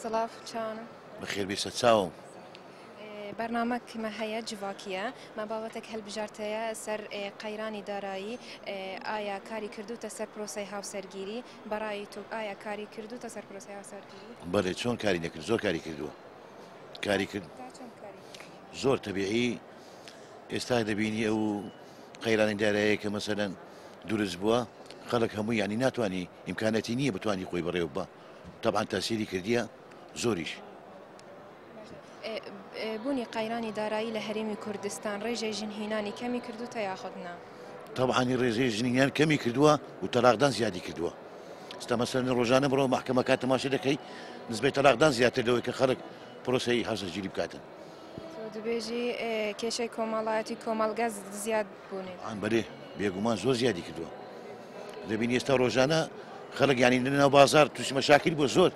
سڵاف چاوانە بەخێر بێشە چاوم بەرنامە کمە هەیە جڤاکیە مە باوەتێک هەلبژارتەیە سەر قەیرانی دارایی ئایا کاری کردوتە سەر پرۆسی هاوسەرگیری بەڕای تۆ ئایا کاری کردووتە سەر پرۆسەی هاوسەرگیری؟ بەڵێ چۆن کاری نەکرد زۆر کاری کردووە کاری کرد زۆر تەبیعی ئێستا دەبینی ئەو قەیرانی دارایە کە مەسەدەن دروست بووە خەڵک هەموو ینی ناتوانانی ئیمکانەتی نییە بتانی خۆی بەڕێوە بە تەبان تاسیری کردیە زۆریش بوونی قەیرانی دارایی لە هەرێمی کوردستان ڕێژەی ژن هینانی کەمی کردوتە یاخود نا؟ تەبعەنی ڕێژەی ژن هینان کەمی کردووە و تەلاقدان زیادی کردووە ستا مەسەرنی ڕۆژانە بڕەوە محکەمەکە تەماشە دەکەی نزبەی تەلاقدان زیاتر لەوەی کە خەڵک پرۆسی هەژەگیری بکاتن دبێژی کێشەی کۆمەڵایەتی کۆمەلگا زیاد بوونێت ئەم بەێ بێگومان زۆر زیادی کردووە دەبین ئێستا ڕۆژانە خەڵک ینی ناو بازار تووشمە شاکر بۆ زۆر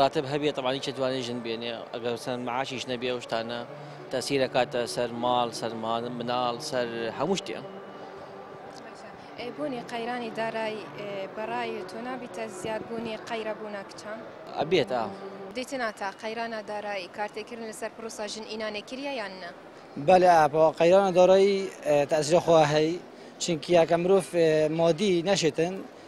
راتب هەبێ تەبعەن هیچ ئەتوانێ ژن بێنێ ئەگەر چەند معاشیش نەبێ ئەو شتانە تەسیر ئەکاتە سەر ماڵ سەر مناڵ سەر هەموو شتێ بوونی قەیرانی دارای بەڕای تۆ نابیتە زیادبوونی قەیرەبوونا کچان ئەبێت ئا دیتنا تا قەیرانە دارایی کارتێکردن لەسەر پرۆسا ژن ئینانێ کریە یان نە بەلێ ئاپەوە قەیرانە دارایی تەسرە خۆ هەی چینکیاکە مرۆڤ مادی نەشێتن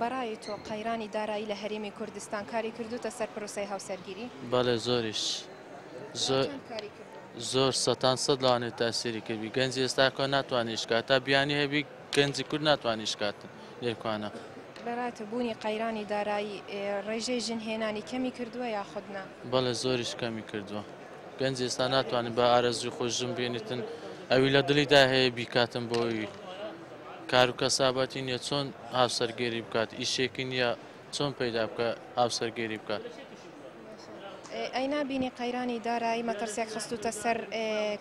بەڕای تۆ قەیرانی دارایی لە هەرێمی کوردستان کاری کردوتە سەر پرۆسی هاوسەرگیری بەڵێ زۆریش زۆر زۆر سەان سەد لەوانێت تاسیری کردی گەنج ئێستاکە ناتوانانی شکات تا بیانی هەبی گەنجی کورد ناتوانی شکات لێکوانە. بەڕای تۆ بوونی قەیرانی دارایی ڕێژەی ژن هێنانی کەمی کردووە یاخود نا؟ بەڵێ زۆریش کەمی کردووە. گەنج ئێستا ناتوانێت بە ئارەزوی خۆی ژن بێنیتن ئەوی لە دڵیدا هەیە بیکاتن بۆی کار و کەسابەتی نیە چۆن هاوسەرگێری بکات ئیشێکی نیە چۆن پەیدا بکە هاوسەرگێری بکات. ئەی نابینی قەیرانی دارایی مەترسیەک خستوتە سەر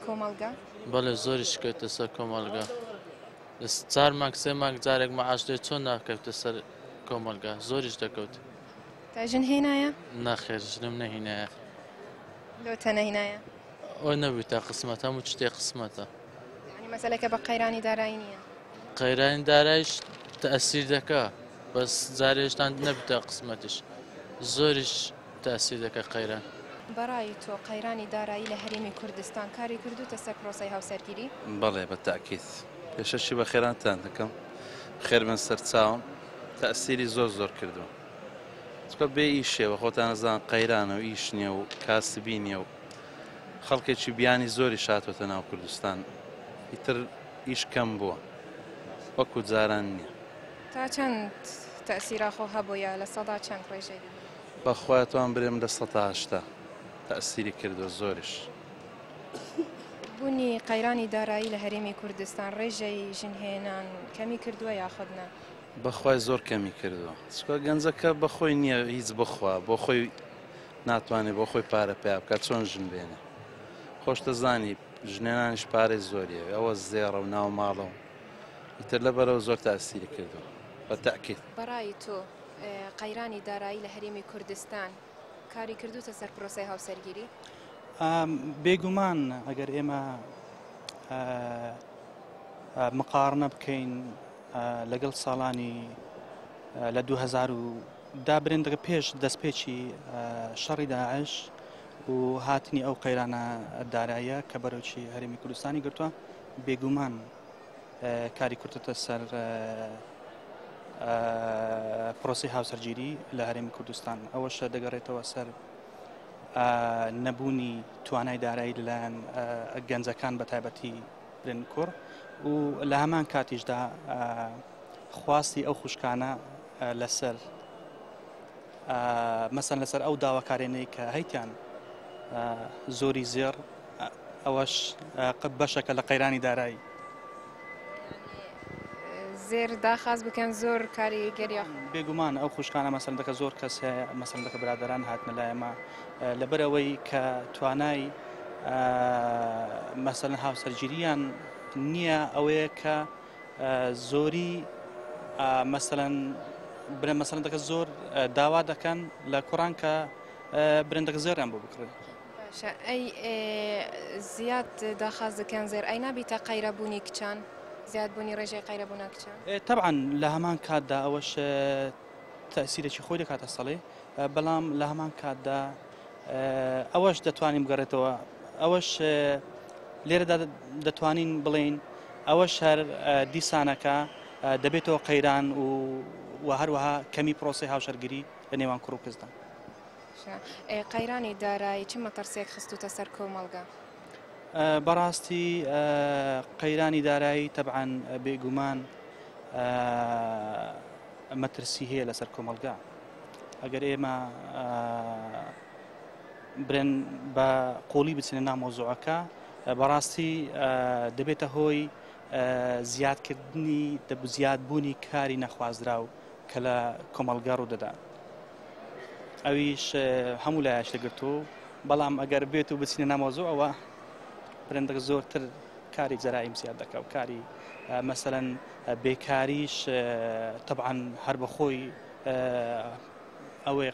کۆمەڵگە؟ بەڵێ زۆری شکەوتە سەر کۆمەڵگا چار مانگ سێ مانگ جارێک مەعاش دێت چۆن ناکەوتە سەر کۆمەلگا زۆریش دەکەوت تا ژن هێنایە ناخێر ژنم نەهینایە لۆتە نەهینایە ئەو نەبوو تا قسمەت هەموو شتێ قسمەتە ینی مەسلەکە بە قەیرانی دارایی نییە قەیرانی دارایش تەسیر دەکە بەس جارێشتان نەبتە قسمەتش زۆریش تا سی دەکا قەیران. بەڕای تۆ قەیرانی دارایی لە هەرێمی کوردستان کاری کردووتە سەر پرۆسەی هاوسەرگیری؟ بەڵێ بە تاکید. پێشەکی بە خێرانتان دەکەم. خێربن سەرچاوم. تەئسیری زۆر زۆر کردووە. چونکە بێ ئیشێ و خۆتان ئەزان قەیرانە و ئیش نیە و کاسبی نیە و خەڵکێکی بیانی زۆریش هاتۆتە ناو کوردستان ئیتر ئیش کەم بووە وەکو جاران نیە. تا چەند تەئسیرا خۆ هەبووە لە سەدا چەند ڕێژەی؟ بەخوای توام برێم لە سەتا هەشتا تەئسیری کردوە زۆریش. بونی قەیرانی دارایی لە هەرێمی کوردستان ڕێژەی ژن هێنان کەمی کردوە یاخود نا؟ بەخوای زۆر کەمی کردوە چکە گەنجەکە بەخۆی نیە هیچ بخوا بۆ خۆی ناتوانێت بۆ خۆی پارە پیا بکە چۆن ژن بێنێ خۆشتە زانی ژنێنانیش پارەی زۆریە ئەوە زێڕە و ناو ماڵەوە ئیتر لە بەرەوە زۆر تاسیری کردوە بە تاکیت بەڕای تۆ قەیرانی دارایی لە هەرێمی کوردستان کاری کردوتە سەر پرۆسەی هاوسەرگیری بێگومان ئەگەر ئێمە مقارنە بکەین لەگەڵ ساڵانی لە 2000 دا برندەکە پێش دەستپێکی شەڕی داعش و هاتنی ئەو قەیرانە دارایە کە بەرەوچی هەرمی کوردستانی گرتووە بێگومان کاری کورتتە سەر پرۆسی هاوسەرگیری لە هەرێمی کوردستان ئەوەشە دەگەڕێتەوە سەر نەبوونی توانای دارایی لەلایەن گەنجەکان بە تایبەتی برن کوڕ و لە هەمان کاتیشدا خواستی ئەو خوشکانە لەسەر مەسەن لەسەر ئەو داواکارێنەی کە هەیتیان زۆری زێڕ ئەوەش بەشەکە لە قەیرانی دارایی زێر داخاز بکەن زۆر کاری گەریا بێگومان ئەو خوشکانە مەسەندەکە زۆر کەس هەیە مەسەندەکە برادران هاتنە لایەمە لەبەر ئەوەی کە توانای مەسەن هاوسەرگیریان نییە ئەوەیە کە زۆری مەسەن برە مەسەندەکە زۆر داوا دەکەن لە کوڕان کە برندەکە زۆریان بۆ بکڕن باشە ئەی ئێ زیاد داخاز دکەن زێر ئەی نابیتە قەیرە بونی کچان زیاد بونی ڕێژەی قەیرە بونە کچان؟ تەبعەن لە هەمان کاتدا ئەوەش تەئسیرێکی خۆی دەکاتە سەڵێ بەڵام لە هەمان کاتدا ئەوەش دەتوانین بگەڕێتەوە ئەوەش لێرەدا دەتوانین بڵین ئەوە شەر دیسانەکە دەبێتەوە قەیران و و هەروەها کەمی پرۆسی هاوشەرگیری لە نێوان کوڕ و کەسدا. قەیرانی دارایی چ مەتەڕسێک خستووتە سەر کۆمەڵگە؟ بەڕاستی قەیرانی دارایی تەبعاان بێگومان مەترسی هەیە لەسەر کۆمەلگا ئەگەر ئێمە برێن بە قۆڵی بچنە نامۆزۆعەکە بەڕاستی دەبێتە هۆی زیادکردنی دەبزیاد بوونی کاری نەخوازرا و کە لە کۆمەڵگا ڕوودەدا ئەویش هەموو لایەش دەگرتو بەڵام ئەگەر بێت و بچینە نامۆزۆ ئەوە پرندەک زۆرتر کاری جەرائیم زیاد دەکە و کاری مەسەەن بێکاریش تەعاان هەر بەخۆی ئەوەیە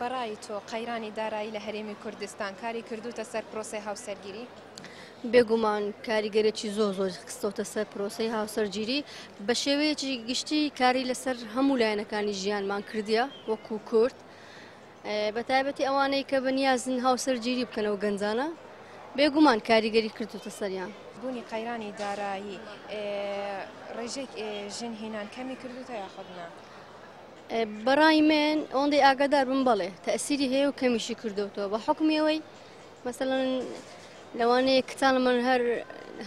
بەڕای تۆ قەیرانی دارایی لە هەرێمی کوردستان کاری کردوتە سەر پرۆسی هاوسەرگیری بێگومان کاریگەرێکی زۆ زۆر خستۆتە سەر پرۆسی هاوسەرگیری بە شێوەیەکی گشتی کاری لەسەر هەموو لایەنەکانی ژیانمان کردیە وەکو کورد بە تایبەتی ئەوانەی کە بەنیازن هاوسەرگیری بکەن و گەنجانە بێگومان کاریگەری کردوتە سەریان بوونی قەیرانی دارایی ڕێژێک ژن هینان کەمی کردوتە یاخودنا بەڕای من ئەوەندەی ئاگادار بم بڵێ تەسیری هەیە و کەمیشی کردوتەوە بە حکومیەوەی مەسەن لەوانەیە کتان من هەر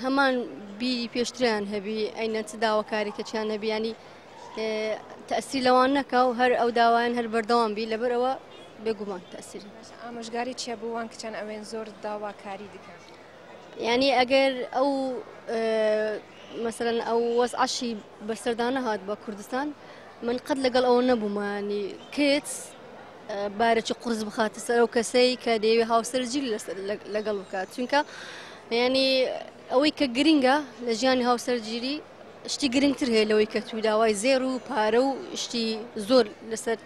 هەمان بیری پێشتریان هەبی ئەینە چ داواکاریکەچیان نەبیانی تەسی لەوان نەکا و هەر ئەو داوایان هەر بەردەوام بی لەبەرەوە بێگومان تەسیری ئامۆژگاری چیە بووان کچەن ئەوێن زۆر داواکاری دکە ینی ئەگەر ئەو مەسەرەن ئەو وەز عشی بەسەردانە هاات بە کوردستان من قەت لەگەڵ ئەوە نەبوومانی کچ بارەکی قرس بخاتە سەر ئەو کەسەی کە دەیەوێ هاوسەرجی لەگەڵ بکات چونکە ینی ئەوەی کە گرنگە لە ژیانی هاوسەرگیری شتی گرنگتر هەیە لەوەی کە توو داوای زێر و پارە و شتی زۆر لەسەر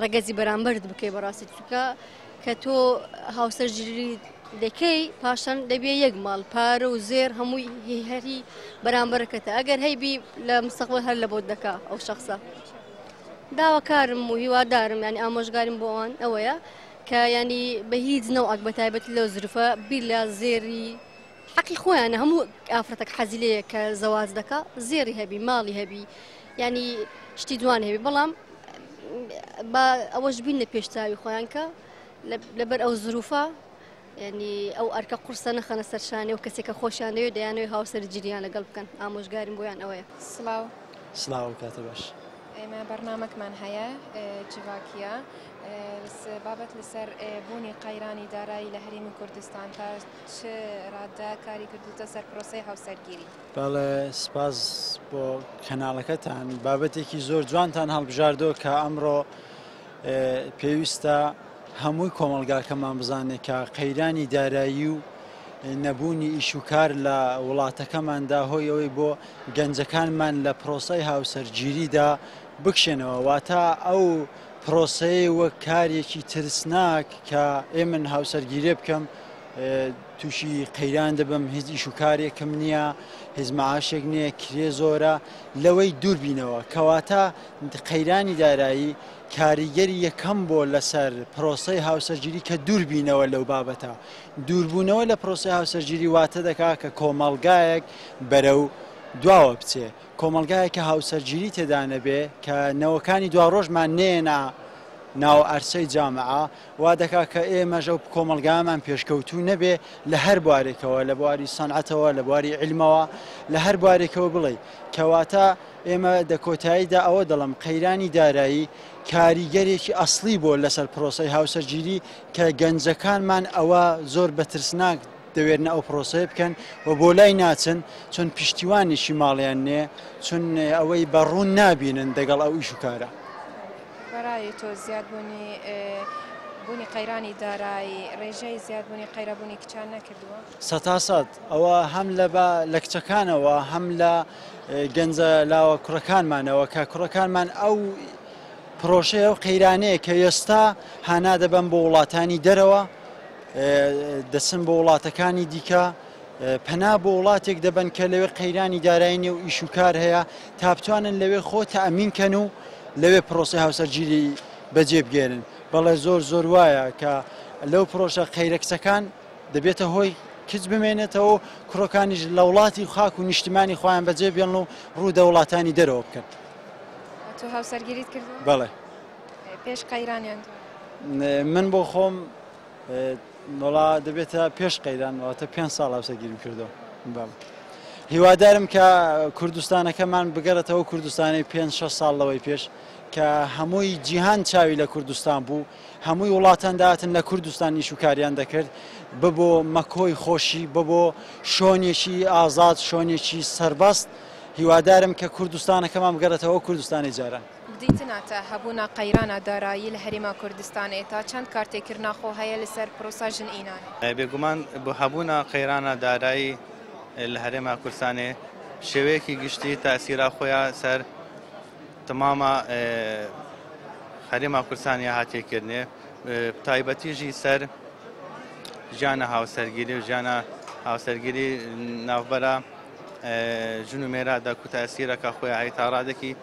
ڕەگەزی بەرامبەرت بکەی بەڕاستی چکە کە تۆ هاوسەرگیری دەکەی پاشان دەبێ یەک ماڵ پارە و زێر هەمووی هەری بەرامبەرەکەتە ئەگەر هەیبی لە مستەقبل هەر لە بۆت دەکا ئەو شخصە داواکارم و هیوادارم ینی ئامۆژگاریم بۆ ئەوان ئەوەیە کە ینی بە هیچ نەوەک بە تایبەت لە زرفە بیر لە زێری حەقی خۆیانە هەموو ئافرەتەک حەزی لەیە کە زەواج دەکا زێری هەبی ماڵی هەبی ینی شتی دوان هەبی بەڵام بە ئەوەش بین لە پێشتاوی خۆیان کە لەبەر ئەو زروفە ینی ئەو ئەرکە قورسە نەخەنە سەرشانێ و کەسێکە خۆشیان دەوێت دەیانەوەی هاوسەر جریان لەگەڵ بکەن ئامۆژگاریم بۆیان ئەوەیە سلااو سلااو کاتە باش. ئێمە بەرنمەکمان هەیە جڤاکیە بابەت لەسەر بوونی قەیرانی دارایی لە هەرێمی کوردستان تا چ ڕادە کاری کردوتە سەر پرۆسەی هاوسەرگیری؟ بەڵێ سپاس بۆ کەناڵەکەتان بابەتێکی زۆر جوانتان هەڵبژاردۆ کە ئەمڕۆ پێویستە هەمووی کۆمەلگاکەمان بزانێت کە قەیرانی دارایی و نەبوونی ئیش و کار لە وڵاتەکەماندا هۆی ئەوەی بۆ گەنجەکانمان لە پرۆسای هاوسەرگیریدا بکشێنەوە واتە ئەو پرۆسەیە وەک کارێکی ترسناک کە ئێ من هاوسەرگیرێ بکەم تووشی قەیران دەبم هیچ ئیش و کارێکم نییە هیچ معاشێک نییە کرێ زۆرە لەوەی دووربینەوە کەواتە قەیرانی دارایی کاریگەری یەکەم بۆ لەسەر پرۆسی هاوسەرگیری کە دووربینەوە لەو بابەتە دووربوونەوە لە پرۆسی هاوسەرگیری واتە دەکا کە کۆمەڵگایەک بەرەو دواوە بچێ کۆمەڵگایەک کە هاوسەرگیری تێدا نەبێ، کە نەوەکانی دواڕۆژمان نەیەنە ناو عەرسەی جامعە، وا دەکا کە ئێمەش ئەو کۆمەڵگایەمان پێشکەوتوو نەبێ لە هەر بوارێکەوە، لە بواری سەنعەتەوە، لە بواری عیلمەوە، لە هەر بوارێکەوە بڵێی. کەواتە ئێمە دە کۆتاییدا ئەوە دەڵێم، قەیرانی دارایی کاریگەرێکی ئەسڵی بووە لەسەر پرۆسەی هاوسەرگیری کە گەنجەکانمان ئەوە زۆر بە ترسناک دەوێرنە ئەو پرۆسەیە بکەن و بۆ لای ناچن چون پیشتیوانێکی ماڵیان نێ چون ئەوەی بە ڕوون نابینن دەگەڵ ئەو ئیش و کارە. بەرای تۆ زیادبوونی بوونی قەیرانی دارایی ڕێژەی زیادبوونی قەیرەبوونی کچان نەکردووە؟ سەتا سەد ئەوە هەم لە بە لە کچەکانەوە هەم لە گەنجە لاوە کوڕەکانمانەوە کە کوڕەکانمان ئەو پرۆشەیە و قەیرانەیە کە ئێستا هانا دەبەن بۆ وڵاتانی دەرەوە دەچن بۆ وڵاتەکانی دیکە پەنا بۆ وڵاتێک دەبن کە لەوێ قەیرانی دارایی نێ و ئیش و کار هەیە تا بتوانن لەوێ خۆ تەمین کەن و لەوێ پرۆسی هاوسەرگیری بەجێ بگێرن بەڵێ زۆر زۆر وایە کە لەو پرۆژە قەیرە کچەکان دەبێتە هۆی کچ بمێنێتەوە و کوڕەکانیش لە وڵاتی و خاک و نیشتمانی خۆیان بەجێ بێن و ڕوو دە وڵاتانی دەرەوە بکەن تو هاوسەرگیریت کرد بەڵێ پێش قەیرانیان من بۆ خۆم نۆڵا دەبێتە پێش قەیران واتە پێ ساڵ هاوسەگیرم کردو بەم هیوادارم کە کوردستانەکەمان بگەڕێتەوە کوردستانی پێ شە ساڵ لەوەی پێش کە هەمووی جیهان چاوی لە کوردستان بوو هەمووی وڵاتانداتن لە کوردستان نیشوکاریان دەکرد ببۆ مەکۆی خۆشی ببۆ شۆنێکی ئازاد شۆنێکی سربەست هیوادارم کە کوردستانەکەمان بگەڕێتەوە کوردستانی جاران. دیتنا تا هەبوونا قەیرانا دارایی لە هەرێما کوردستانێ تا چەند کارتێکردنا خۆ هەیە لە سەر پرۆسا ژن ئینان؟ بێگومان بۆ هەبوونا قەیرانا دارایی لە هەرێما کوردستانێ شێوەیەکی گشتی تاسیرا خۆیا سەر تماما هەرێما کوردستانیا هاتێکردنێ تایبەتیژی سەر ژیانە هاوسەرگیری و ژیانە هاوسەرگیری ناوبەرە ژن و مێرا دەکوتاسیرەکە خۆی هەیە تاڕادێکی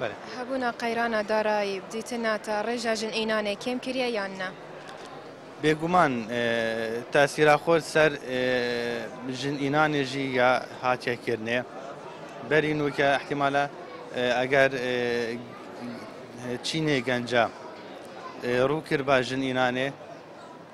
بەلێ. هەبونا قەیرانا دارایی بدیتنا تا ڕێژا ژن ئینانێ کێم کریە یان نە؟ بێگومان تاسیراخۆر سەر ژن ئینانێ ژی یا هاتیە کردنێ بەری نوکە ئەحتیمالە ئەگەر چینێ گەنجە ڕوو کربا ژن ئینانێ،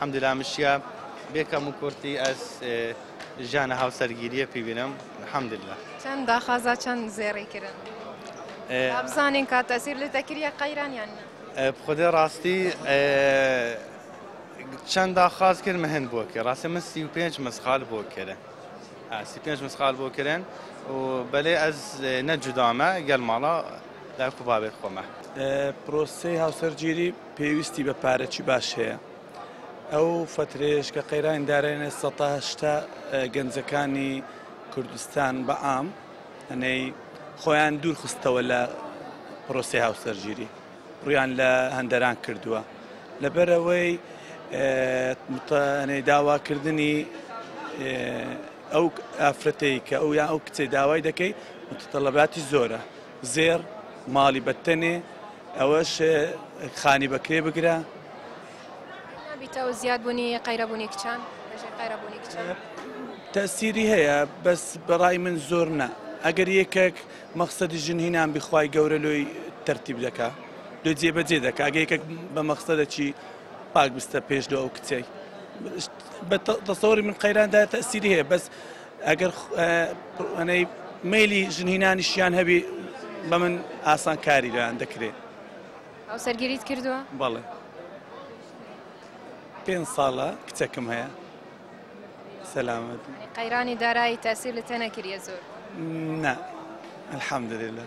حمدللە مشیا بێ کەم و کورتی ئەز ژیانە هاوسەرگیریە پیبینم حمدللە. چەن داخازا چەن زێڕی کرن با بزانین کا تەسیر لێ تەکریە قەیران یان نە. بخودێ ڕاستی چەن داخاز کرد مهن بۆ کرد ڕاستە من سی و پێنج مسقال بۆ کرن سی پێنج مسقال بۆ کرن و بەلێ ئەز نە جودامە گەل ماڵە لای قوبابێت خۆمە پرۆسەی هاوسەرگیری پێویستی بە پارەچی باش هەیە ئەو فترێش کە قەیرانی دارێنێ سەهشتا گەنجەکانی کوردستان بە ئام ئەنەی خۆیان دوورخستەوە لە پرۆسی هاوسەرگیری ڕویان لە هەندەران کردووە لەبەرەوەی متانەی داواکردنی ئەو ئافرەتەی کە ئەو یا ئەو کچەی داوای دەکەی متتەڵەباتی زۆرە زێڕ ماڵی بەتتەنێ ئەوەش خانی بەکرێ بگرە. نابیتەوە زیادبوونی قەیرەبوونی کچان لەژێر قەیرەبوونی کچان. تەئسیری هەیە بەس بەڕای من زۆر نا ئەگەر یەکەک مەخسەدی ژن هینان بی خوای گەورە لۆی تەرتیب دەکا لۆی جێ بەجێ دەکا ئەگە یەکەک بە مەخسەدەکی پاک بستە پێش لۆ ئەو کچەی بە تەسەوری من قەیران دا تەئسیری هەیە بەس ئەگەر مەیلی ژن هینانیشیان هەبی بە من ئاسان کاری لەیان دەکرێت هاوسەرگیریت کردووە بەڵێ پێ ساڵە کچەکەم هەیە سەلامەت قەیرانی دارایی تاسیر لە تەنەکریە زۆر نه الحمد لله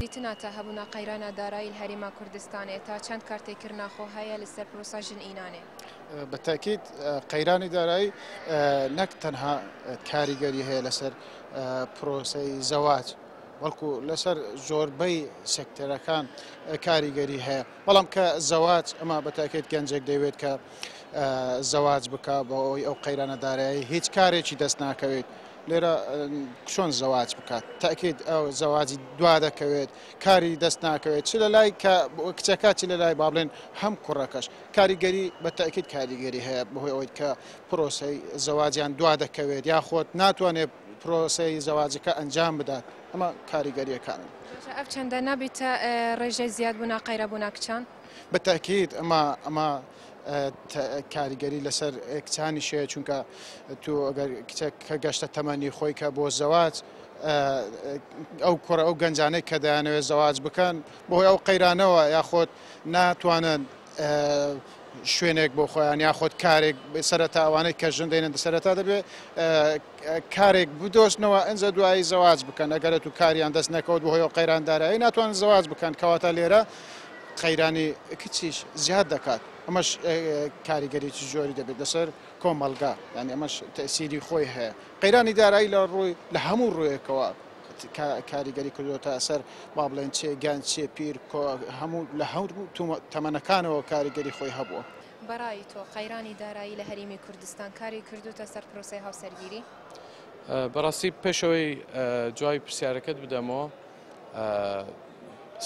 دیتنا تا هەبونا قەیرانا دارایل هەریما کوردستانێ، تا چەند کارتێ کرنا خۆ هەیە لە سەر پرۆسا ژن ئینانێ؟ بەتاکیید قەیرانی دارایی نەک تەنها کاریگەری هەیە لەسەر پرۆسەی زەواج بەڵکو لەسەر زۆربەی سکتەرەکان کاریگەری هەیە. بەڵام کە زەواج ئەمە بە تاکێت گەنجێک دەیوێت کە زەواج بکە بە ئەوی ئەو قەیرانە دارایی هیچ کارێکی دەست ناکەوێت لێرە چۆن زەواج بکات تاکیت ئەو زەواجی دوا دەکەوێت کاری دەست ناکەوێت چ لە لای کە کچەکە چ لە لای بابلێن هەم کوڕەکەش کاریگەری بە تاکیت کاریگەری هەیە بەهۆی ئەوەی کە پرۆسی زەواجیان دوا دەکەوێت یاخۆت ناتوانێت پرۆسی زەواجەکە ئەنجام بدات. ئەمە کاریگەریەکانن. جا ئەڤ چەندە نابیتە ڕێژەی زیاد بوونا قەیرە بوونا کچان؟ بە تاکید ئەمە ئەمە کاریگەری لەسەر کچانی شەیە چونکە تو ئەگەر کچێک کە گەشتە تەمەنی خۆی کە بۆ زەواج ئەو کوڕە ئەو گەنجانەی کە دەیانەوێت زەواج بکەن بۆی ئەو قەیرانەوە یاخۆت ناتوانن شوێنێک بۆ خۆیان یاخۆت کارێک سەرەتا ئەوانەی کە ژن دێنن سەرەتا دەبێت کارێک بدۆزنەوە ئنجا دوایی زەواج بکەن ئەگەرەتوو کاریان دەست نەکەوت بەهۆی ئەو قەیران دارایی ناتوانن زەواج بکەن کەواتە لێرە قەیرانی کچیش زیاد دەکات ئەمەش کاریگەریی زۆری دەبێت لەسەر کۆمەلگا یانی ئەمەش تەسیری خۆی هەیە قەیرانی دارایی لە ڕووی لە هەموو ڕوویەکەوە کاریگەری کردوەتە ئەسەر با بڵێن چێ گیان چێ پیر هەموو لە هەور تەمەنەکانەوە کاریگەری خۆی هەبووە. بەڕای تۆ قەیرانی دارایی لە هەریمی کوردستان کاری کردوتە سەر پرۆسەی هاوسەرگیری؟ بەڕاستی پێشەوەی جوای پرسیارەکەت بدەمەوە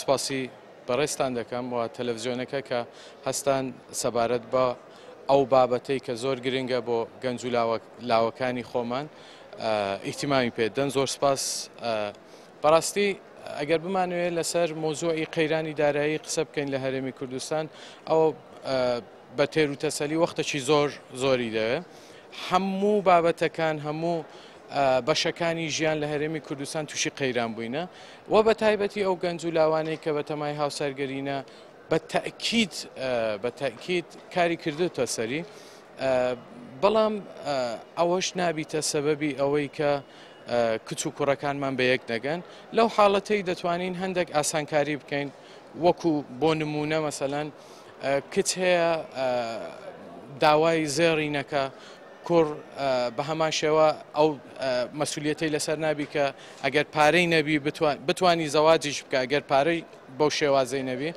سپاسی بەڕێستان دەکەم و تەلەڤزیۆنەکە کە هەستان سەبارەت بە ئەو بابەتەی کە زۆر گرنگە بۆ گەنج و لاوەکانی خۆمان ئیتیمامی پێدەن زۆر سپاس بەڕاستی ئەگەر بمانەوێت لەسەر مۆزوعی قەیرانی دارایی قسە بکەین لە هەرێمی کوردستان ئەوە بە تێر و تەسەلی وەختەکی زۆر زۆری دەوێت هەموو بابەتەکان هەموو بەشەکانی ژیان لە هەرێمی کوردستان تووشی قەیران بووینە و بە تایبەتی ئەو گەنج و لاوانەی کە بە تەمای هاوسەرگەرینە بە تەکیت بە تەکیت کاری کردوتە سەری بەڵام ئەوەش نابیتە سەبەبی ئەوەی کە کچ و کوڕەکانمان بە یەک دەگەن لەو حاڵەتەی دەتوانین هەندێک ئاسانکاری بکەین وەکو بۆ نمونە مەسەەن کچ هەیە داوای زێڕی نەکە کوڕ بە هەمان شێوە ئەو مەسوولەتی لەسەر نابی کە ئەگەر پارەی نەبی بتوانی زەواجیش بکە ئەگەر پارەی بەو شێوازەی نەبی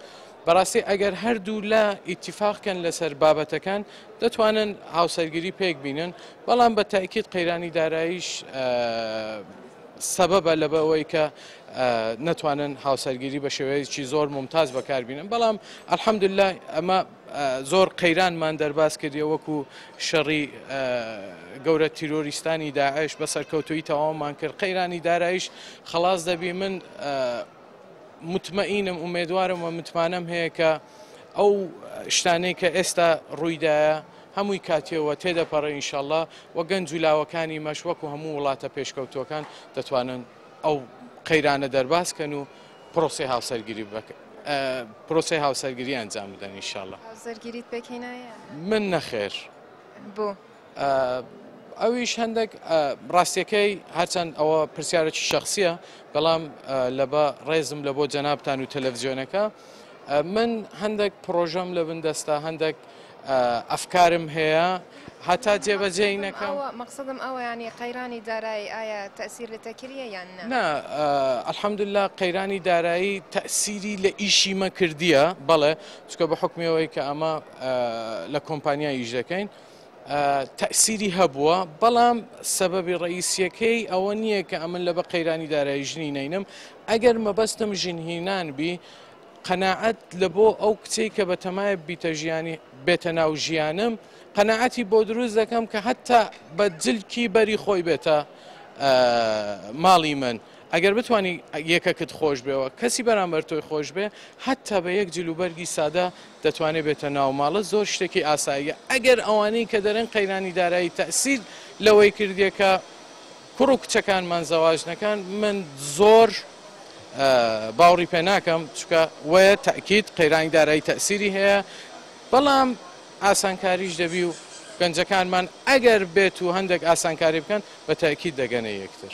بەڕاستی ئەگەر هەردوو لا ئیتیفاق کەن لەسەر بابەتەکان دەتوانن هاوسەرگیری پێک بینن بەڵام بە تاکیید قەیرانی داراییش سەبەبە لە بەوەی کە نەتوانن هاوسەرگیری بە شێوەیەکی زۆر ممتاز بەکاربیینن بەڵام ئەلحەمدللا ئەمە زۆر قەیرانمان دەرباز کردی وەکو شەڕی گەورە تیرۆریستانی داعش بە سەرکەوتوی تەواومان کرد قەیرانی دارایش خلاص دەبی من متمەئینم ئومێدوارم و متمانەم هەیە کە ئەو شتانەی کە ئێستا ڕوویدایە هەمووی کاتیەوە تێدەپەڕێ ئینشاءاللە و گەنج و لاوەکانی مەش وەکو هەموو وڵاتە پێشکەوتووەکان دەتوانن ئەو قەیرانە دەرباز کەن و پرۆسی هاوسەرگیری بکەن پرۆسی هاوسەرگیری ئەنجام بدەن ئینشاءاللە هاوسەرگیریت پێکهێنایە من نەخێر بۆ ئەویش هەندێک ڕاستیەکەی هەرچەند ئەوە پرسیارێکی شخصیە بەڵام لەبە ڕێزم لە بۆ جەنابان و تەلەڤزیۆنەکە من هەندێک پرۆژەم لە بن دەستە هەندێک ئەفکارم هەیە هەتا جێبەجێ نەکەم مەقصدم ئەوەیانی قەیرانی دارایی ئایا تەسیر لە تەکریە یان نا ئەلحەمدللا قەیرانی دارایی تەسیری لە ئیشی مە کردیە بەڵێ چکە بە حکمەوەی کە ئەمە لە کۆمپانیا ئیش دەکەین. تەئسیری هەبووە بەڵام سەبەبی ڕئیسیەکەی ئەوە نییە کە ئەمن لە بە قەیرانی دارایی ژنی نینم ئەگەر مەبەستم ژنهینان بی قەنەعەت لە بۆ ئەو کچەی کە بە تەمایە بیتە ژیانی بێتە ناو ژیانم قەنەعەتی بۆ دروست دەکەم کە هەتا بە جلکی بەری خۆی بێتە ماڵی من. ئەگەر بتوانی یەکەکت خۆش بێ و کەسی بەرامبەر تۆی خۆش بێ حەتتا بە یەک جل و بەرگی سادە دەتوانێ بێتە ناو ماڵت زۆر شتێکی ئاساییە ئەگەر ئەوانەی کە دەرێن قەیرانی دارایی تەئسیر لەوەی کردیە کە کوڕ و کچەکانمان زەواج نەکەن من زۆر باوڕی پێ ناکەم چکە وەیە تاکیت قەیرانی دارایی تەئسیری هەیە بەڵام ئاسانکاریش دەبی و گەنجەکانمان ئەگەر بێت و هەندێک ئاسانکاری بکەن بە تاکیت دەگەنە یەکتر.